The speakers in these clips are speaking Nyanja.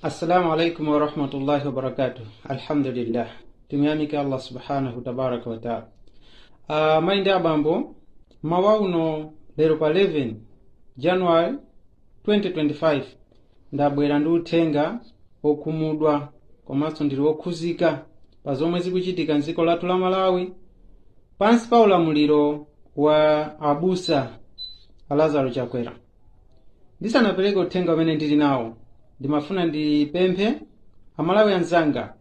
assalamu alaikum warahmatullahi wabarakatuh alhamdulillah timuyamike allah subhanahu tabaraka wataala uh, mayi ndi abambo mmawa uno lero pa 11 january 2025 ndabwera ndi uthenga okhumudwa komanso ndili okhuzika pa zomwe zikuchitika mdziko lathu la malawi pansi pa ulamuliro wa abusa alazaro chakwera ndisanapereka uthenga umene ndili nawo ndimafuna ndipemphe amalawi anzanga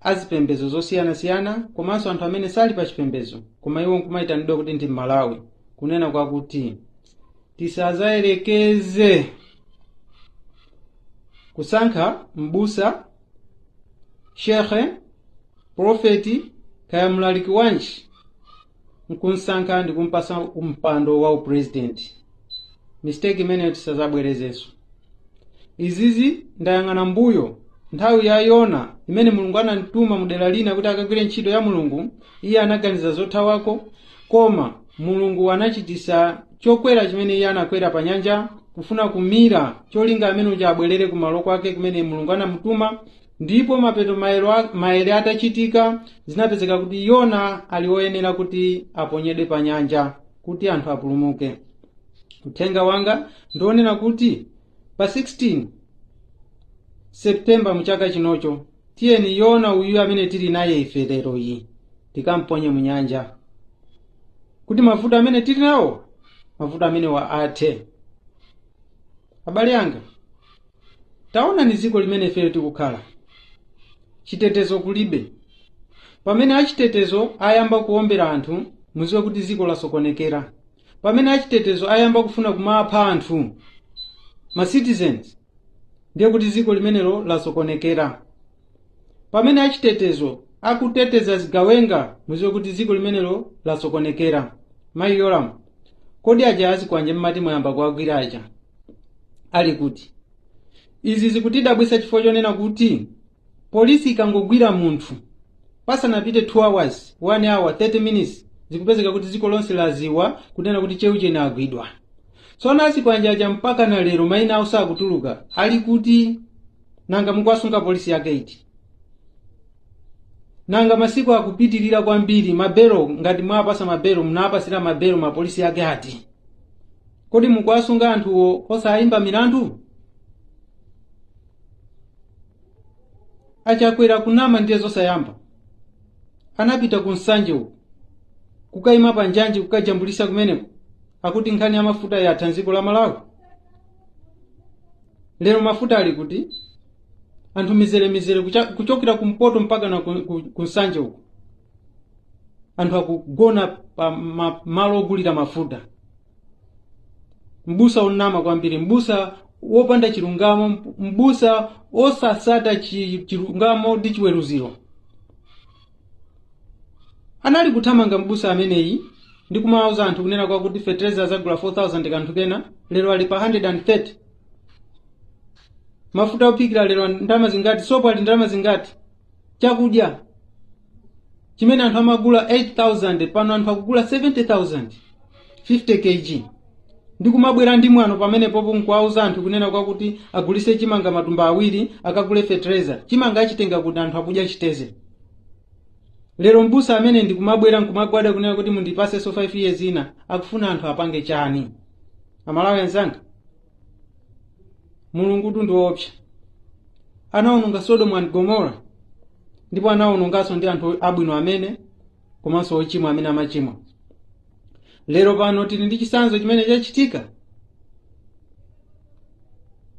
azipembedzo zosiyanasiyana komanso anthu amene sali pa chipembedzo koma iwo nkumayitanidwa kuti ndi mmalawi kunena kwakuti tisazayerekeze kusankha mbusa shekhe profeti kaya mlaliki wanji nkunsankha ndikumpasa umpando wa upresident mistake imeneyo tisazabwerezenso izizi ndayang'ana mbuyo nthawi ya yona imene mulungu anamtuma mu dera lina kuti akagwire ntchito ya mulungu iye anaganiza zothawako koma mulungu anachitisa chokwera chimene iye anakwera pa nyanja kufuna kumira cholinga amene uja abwerere kumalo kwake kumene mulungu anamutuma Ndipo mapeto maere atachitika, zinapezeka kuti Yona ali woyenera kuti aponyedwe pa nyanja kuti anthu apulumuke. Uthenga wanga ndionena kuti pa 16 September mu chaka chinocho tiyeni Yona uyu amene tili naye ife lero iyi tikamponye mu nyanja kuti mavuto amene tili nawo mavuto amenewa athe. Abale anga, taonani dziko limene ifeyo tikukhala chitetezo kulibe pamene achitetezo ayamba kuombera anthu muziwe kuti dziko lasokonekera pamene achitetezo ayamba kufuna kumapha anthu ma citizens ndiye kuti dziko limenelo lasokonekera pamene achitetezo akuteteza zigawenga muziwe kuti dziko limenelo lasokonekera mayi yolamu kodi aja azikwanje mmati mwayamba kuwagwira aja ali kuti izi zikutidabwitsa chifukwa chonena kuti polisi ikangogwira munthu pasanapite 2 hours 1 hour 30 minutes zikupezeka kuti dziko lonse laziwa kunena kuti cheuchene agwidwa tsono azikwanje aja mpaka na lero maina awo sakutuluka ali kuti nanga mukuwasunga polisi yake iti nanga masiku akupitirira kwambiri mabelo ngati mwapasa mabelo munapasira mabelo mapolisi yake ati kodi mukuwasunga anthuwo osayimba milandu achakwera kunama ndiye zosayamba anapita ku nsanje uko kukayima pa njanji kukajambulitsa kumeneko akuti nkhani ya mafuta yatha mdziko la malawi lero mafuta ali kuti anthu mizeremizere kuchokera kumpoto mpaka na ku nsanje uko anthu akugona pa malo ogulira mafuta mbusa onama kwambiri mbusa wopanda chilungamo mbusa osatsata chilungamo ndi chiweruzo anali kuthamanga mbusa ameneyi ndi kumawauza anthu kunena kwa kuti fetereza azagula 4000 kanthu kena lero ali pa 130 mafuta ophikira lero ndalama zingati sopo ali ndalama zingati chakudya chimene anthu amagula 8000 pano anthu akugula 70000 50 kg ndi kumabwera ndi mwano pamene popo nkuwauza anthu kunena kwakuti agulise chimanga matumba awiri akagule fetereza chimanga achitenga kuti anthu akudya chitedze lero mbusa ameneyi ndikumabwera nkumagwada kunena kuti mundipasenso 5 years ina akufuna anthu apange chani amalawi anzanga mulungutu ndi woopsa anawononga sodomu and gomora ndipo anawononganso ndi anthu abwino amene komanso ochimwa amene amachimwa lero pano tili ndi chitsanzo chimene chachitika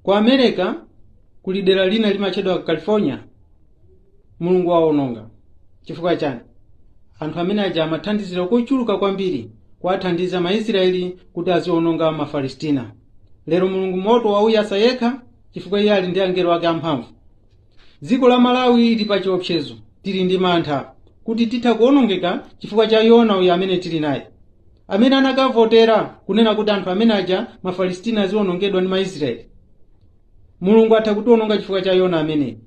ku america kuli dera lina limatchedwa california mulungu waononga chifukwa chani anthu amene aja amathandizira kochuluka kwambiri kuwathandiza maisraeli kuti aziononga mapalestina lero mulungu moto wauyasa yekha chifukwa iye ali ndi angelo ake amphamvu dziko la malawi lili pa chiopsezo tili ndi mantha kuti titha kuonongeka chifukwa cha yona uyu amene tili naye amene anakavotera kunena kuti anthu amene aja mapalestina azionongedwa ndi maisraeli mulungu atha kutiwononga chifukwa cha yona ameneyi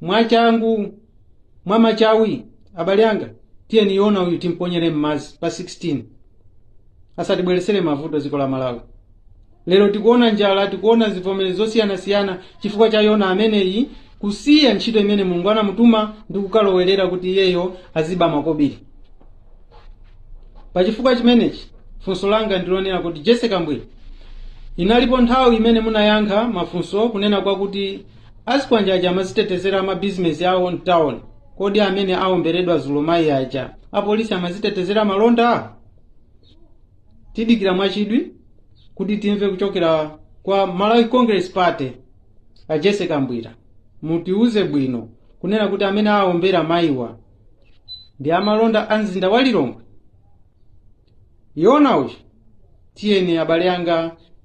mwachangu mwamachawi abale anga tiyeni yona uyu timponyere m'madzi pa 16 asatibweretsere mavuto dziko la malawi lero tikuona njala tikuona zivomezi zosiyanasiyana chifukwa cha yona ameneyi kusiya ntchito imene mulungu anamutuma ndi kukalowerera kuti iyeyo aziba makobiri pa chifukwa chimenechi funso langa ndilonena kuti jessie kabwila inalipo nthawi imene munayankha mafunso kunena kwakuti azikwanje aja amazitetezera mabizinesi awo mtawuni kodi amene awomberedwa dzulo mayi aja apolisi amazitetezera malonda tidikira mwachidwi kuti timve kuchokera kwa malawi congress party a jessie kabwila mutiuze bwino kunena kuti amene awombera mayiwa ndi amalonda a mzinda wa lilongwe yona uyu tiyeni abale anga